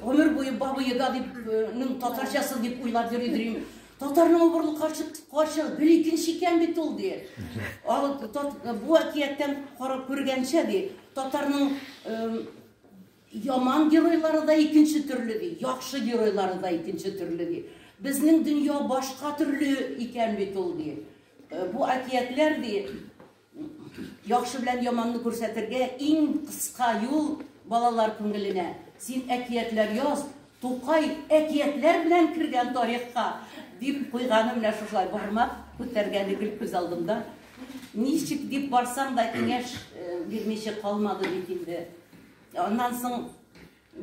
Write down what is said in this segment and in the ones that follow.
Гомер буе бабы еда дип, ның татарчасы дип уйлап йөри дим. Татарның обырлы карчык, карчык бер икенче икән бит ул ди. Ал бу әкияттән карап күргәнчә ди, татарның яман геройлары да икенче төрле ди, яхшы геройлары да икенче төрле ди. Безнең дөнья башка төрле икән бит ул ди. Бу әкиятләр ди, Яхшы белән яманны күрсәтергә иң кыска юл, балалар күңеленә. Син әкиятләр яз, Тукай әкиятләр белән кергән тарихка, дип куйганы менә шушылай, бармак күтәргәне гел күз алдымда. Ничек дип барсаң да киңәш бирмичә калмады бит инде. Аннан соң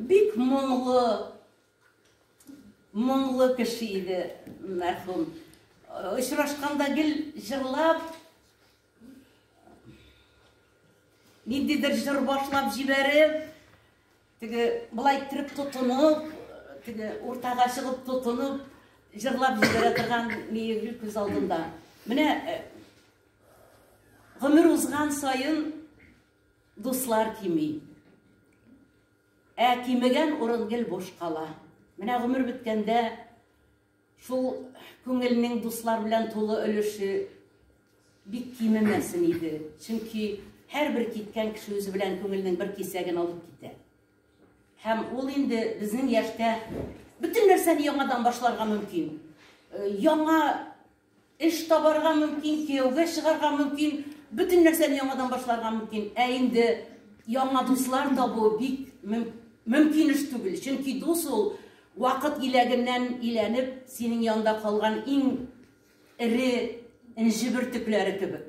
бик моңлы, Моңлы кеше иде мәрхүм. Очрашканда гел җырлап, ниндидер җыр башлап җибәреп, теге былай иттереп тотынып, теге уртага чыгып тотынып, җырлап җибәрә торган миегел күз алдында. Менә э, гомер узган саен дуслар кими. Ә кимегән урын гел буш кала. Менә гомер беткәндә шул күңелнең дуслар белән тулы өлеше бик кимемәсен иде. Чөнки һәрбер киткән кеше үзе белән күңелнең бер кисәген алып китә. Һәм ул инде безнең яшьтә бөтен нәрсәне яңадан башларга мөмкин. Э, яңа Эш табарга мөмкин, кияүгә чыгарга мөмкин, бөтен нәрсәне яңадан башларга мөмкин. Ә инде яңа дуслар табу бик мөмкин эш түгел. Чөнки дус ул вакыт иләгеннән иләнеп, синең янда калган иң эре энҗе бөртекләре кебек.